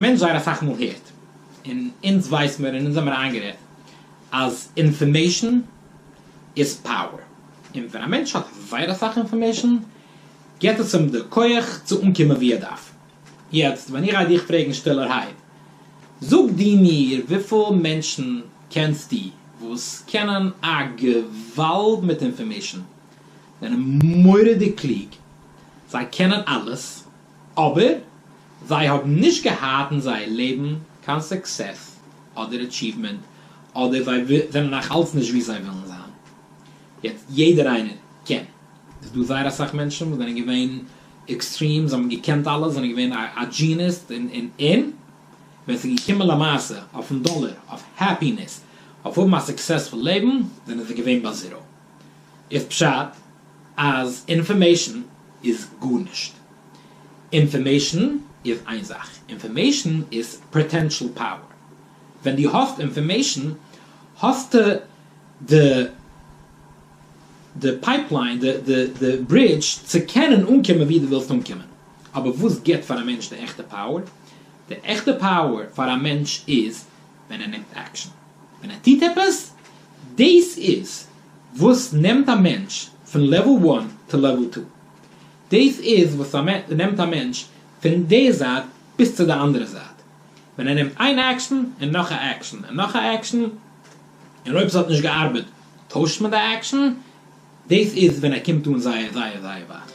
מען זייער אסאך מאל הערט, און אונז ווייס מיר און אונז זעמער איינגערעדט, אז אינפארמעישן איז פאוער, און ווען א מענטש האט זייער אסאך אינפארמעישן, גיבט עס אים די כח צו אנקומען ווי ער דארף. יעצט ווען איך גיי דיך פרעגן שטילערהייט, זאג דו מיר וויפיל מענטשן קענסטו וואס קענען א געוואלד מיט אינפארמעישן, זענען מורא'דיג קלוג, זיי קענען אלעס, אבער זיי האבן נישט געהאט אין זייער לעבן קיין סוקסעס אדער אטשיוומענט, אדער זיי זענען נאך אלץ נישט ווי זיי ווילן זיין. יעצט יעדער איינער קען, איז דא זייער אסאך מענטשן וואס זענען געווען עקסטרים, זיי האבן געקענט אלעס, זענען געווען א דזשיניס, און און און ווען ס'איז געקומען למעשה אויפן דאלער, אויף העפינעס, אויף האבן א סוקסעספול לעבן, זענען זיי געווען ביי זיראו. איז פשט אז אינפארמעישן איז גארנישט? אינפארמעישן איז איין זאך, אינפארמעישן איז פאטענשעל פאוער, ווען דו האסט אינפארמעישן האסטו די די פייפליין, די די די ברידזש צו קענען אנקומען ווי דו ווילסט אנקומען, אבער וואס גיבט פאר א מענטש די עכטע פאוער? די עכטע פאוער פאר א מענטש איז ווען ער נעמט עקשאן, ווען ער טוט עפעס, דאס איז וואס נעמט א מענטש פון לעוועל וואן טו לעוועל טו, דאס איז וואס נעמט א מענטש פון די זייט ביז צו די אנדערע זייט, ווען ער נעמט איין עקשאן און נאך א עקשאן און נאך א עקשאן, און אויב ס'האט נישט געארבעט טוישט מען די עקשאן, דאס איז ווען ער קומט אן זייער זייער זייער ווייט.